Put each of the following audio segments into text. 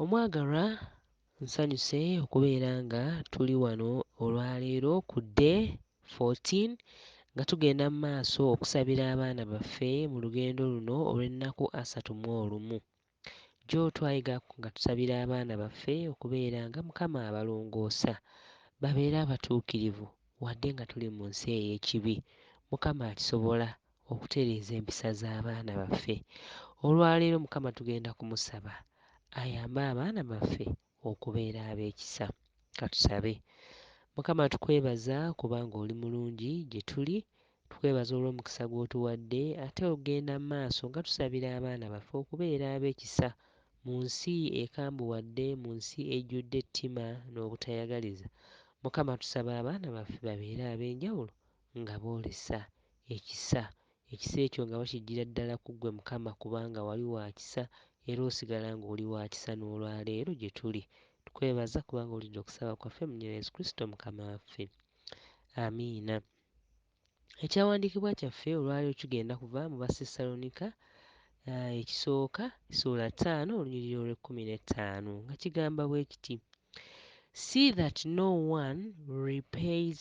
Omwagalwa, nsanyuse okubeera nga tuli wano olwaleero ku Day 14 nga tugenda mu maaso okusabira abaana baffe mu lugendo luno olw'ennaku asatu mu olumu. Jjo twayiga nga tusabira abaana baffe okubeera nga Mukama abalongoosa babeere abatuukirivu wadde nga tuli mu nsi ey'ekibi. Mukama akisobola. okutereeza empisa z'abaana baffe. Olwaleero Mukama tugenda kumusaba ayambe abaana baffe okubeera ab'ekisa. Katusabe. Mukama tukwebaza kubanga oli mulungi gye tuli, tukwebaza olw'omukisa gw'otuwadde ate ogenda mu maaso nga tusabira abaana baffe okubeera ab'ekisa mu nsi ekambuwadde, mu nsi ejjudde ettima n'obutayagaliza. Mukama tusaba abaana baffe babeere ab'enjawulo nga boolesa ekisa, ekisa ekyo nga bakiggyira ddala ku Ggwe, Mukama, kubanga Wali wa kisa, era osigala nga oli wa kisa n'olwa leero gye tuli. Tukwebaza kubanga owulidde okusaba kwaffe, mu Nnya lya Yesu Kristo, Mukama waffe. Amiina. Ekyawandiikibwa kyaffe olwa leero kigenda kuva mu Bassessalonika uh, ekisooka ssuula ttaano olunyiriri olw'ekkumi n'ettaano nga kigamba bwe kiti see that no one repays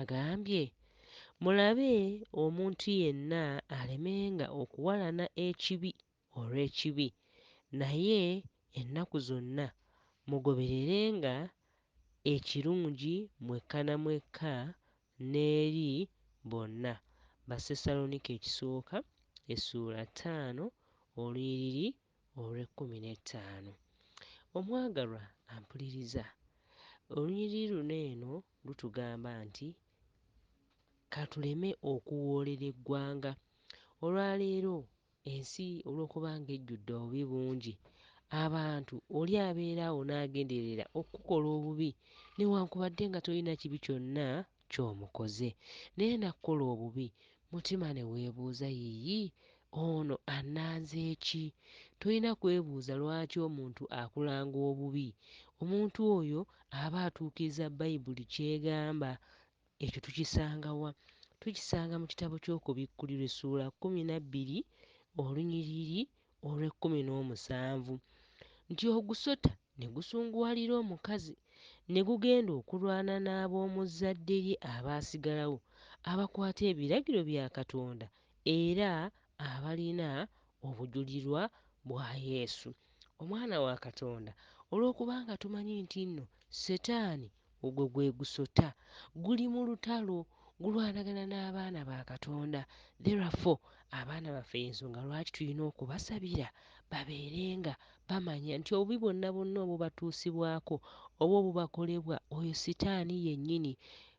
agambye mulabe omuntu yenna alemenga okuwalana ekibi olw'ekibi naye ennaku zonna mugobererenga ekirungi mwekka na mwekka n'eri bonna. Bassessalonike Ekisooka essuula ttaano olunyiriri olw'ekkumi n'ettaano. Omwagalwa ampuliriza. Olunyiriri luno eno lutugamba nti, Ka tuleme okuwoolera eggwanga. Olwa leero, ensi olw'okuba ng'ejjudde obubi bungi, abantu oli abeera awo n'agenderera okukukola obubi newankubadde nga tolina kibi kyonna kyomukoze naye nakukola obubi mutima newebuuza yiyi ono ananzeeki tolina kwebuuza lwaki omuntu akulanga obubi omuntu oyo aba atuukiriza bayibuli kyegamba ekyo tukisangawa tukisanga mukitabo kyokubikkulirwa essuula kumi nabbiri olunyiriri olw'ekkumi n'omusanvu nti ogusota ne gusunguwalira omukazi ne gugenda okulwana n'ab'omu zzadde lye abaasigalawo abakwata ebiragiro bya Katonda era abalina obujulirwa bwa Yesu, Omwana wa Katonda. Olw'okubanga tumanyi nti nno Setaani Ogwo gwe gusota. Guli mu lutalo. Gulwanagana n'abaana ba Katonda. Therefore, abaana baffe y'ensonga lwaki tulina okubasabira babeere nga bamanya nti obubi bwonna bwonna obubatuusibwako oba obubakolebwa oyo sitaani yennyini,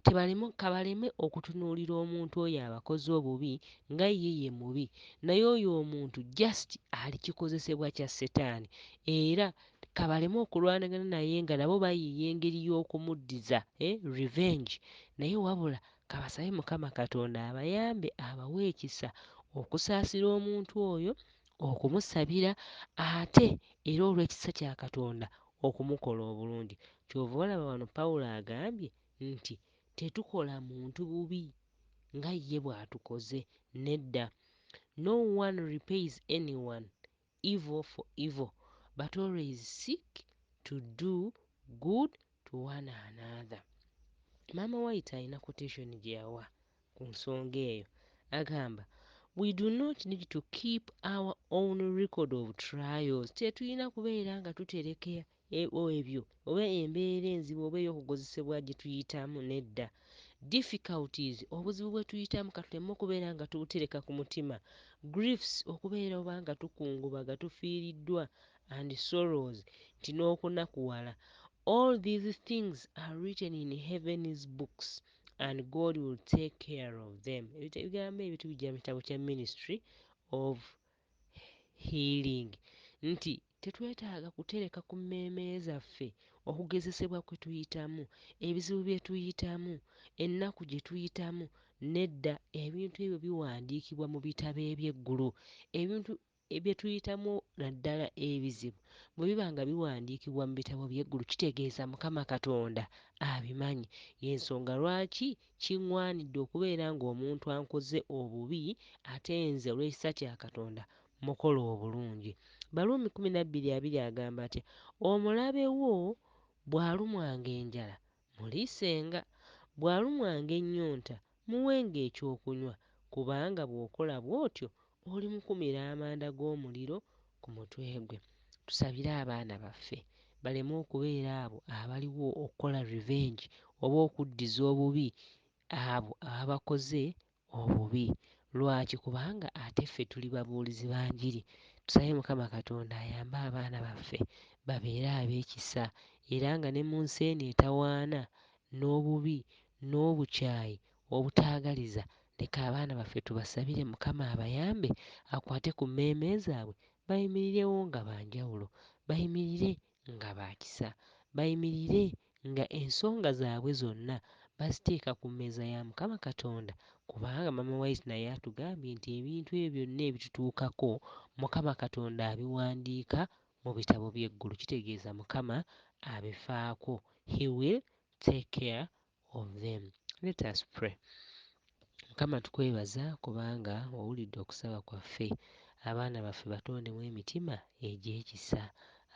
tebaleme, ka baleme okutunuulira omuntu oyo abakoze obubi nga ye ye mubi, naye oyo omuntu just ali kikozesebwa kya setaani era Kabaleme okulwanagana naye nga nabo bayiiya engeri yokumuddiza eh revenge naye wabula kabasabe mukama katonda abayambe abawe ekisa okusaasira omuntu oyo okumusabira ate era olwekisa kya katonda okumukola obulungi kyova olaba wano Paulo agambye nti tetukola muntu bubi nga ye bwatukoze nedda no one repays anyone evil for evil but always seek to do good to one another. Maama White alina quotation gye yawa ku nsonga eyo agamba we do not need to keep our own record of trials tetulina kubeera nga tutereka Ebyo, ebyo, oba embeera enzibu oba ey'okugozesebwa gye tuyitamu, nedda. Difficulties, obuzibu bwe tuyitamu ka tuleme okubeera nga tubutereka ku mutima. Griefs, okubeera oba nga tukungubaga, tufiiriddwa, and sorrows, nti n'okunakuwala. All these things are written in Heaven's books and God will take care of them. Ebita, ebigambo ebyo tubijja mu kitabo kya Ministry of healing, nti tetwetaaga kutereka ku mmeeme zaffe okugezesebwa kwe tuyitamu, ebizibu bye tuyitamu, ennaku gye tuyitamu. Nedda, ebintu ebyo biwandiikibwa mu bitabo eby'eggulu. Ebintu bye tuyitamu naddala ebizibu bwe biba nga biwandiikibwa mu bitabo by'eggulu kitegeeza Mukama Katonda abimanyi. Y'ensonga lwaki Kiŋŋwanidde okubeera ng'omuntu ankoze obubi, ate nze olw'ekisa kya Katonda mmukola obulungi. Baruumi kumi na bbiri abiri agamba atya? Omulabe wo bw'alumwanga enjala, muliisenga, bw'alumwanga ennyonta, muwenga ekyokunywa, kubanga bw'okola bw'otyo olimukumira amanda g'omuliro ku mutwe gwe. Tusabire abaana baffe baleme okubeera abo abaliwo okukola revenge oba okuddiza obubi abo ababakoze obubi. Lwaki? Kubanga ate ffe tuli babuulizi ba njiri. Tusabe Mukama Katonda ayambe abaana baffe babeere ab'ekisa era nga ne mu nsi eno etawaana n'obubi n'obukyayi Obutaagaliza, leka abaana baffe tubasabire Mukama abayambe akwate ku mmeeme zaabwe bayimirirewo nga ba njawulo, bayimirire nga ba kisa, bayimirire nga ensonga zaabwe zonna baziteeka ku mmeeza ya Mukama Katonda kubanga Maama White naye atugambye nti ebintu ebyo byonna ebitutuukako Mukama Katonda abiwandiika mu bitabo by'eggulu kitegeeza Mukama abifaako, he will take care of them let us pray mukama tukwebaza kubanga owulidde okusaba kwaffe abaana baffe batondemu emitima egyekisa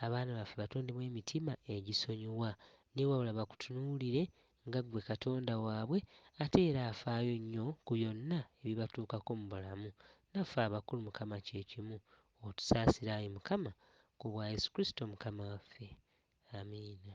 abaana baffe batondemu emitima egisonyiwa newabula bakutunuulire nga ggwe katonda waabwe ate era afaayo nnyo ku byonna ebibatuukako mu bulamu naffe abakulu mukama kyekimu otusaasire ayi mukama ku bwa yesu kristo mukama waffe amiina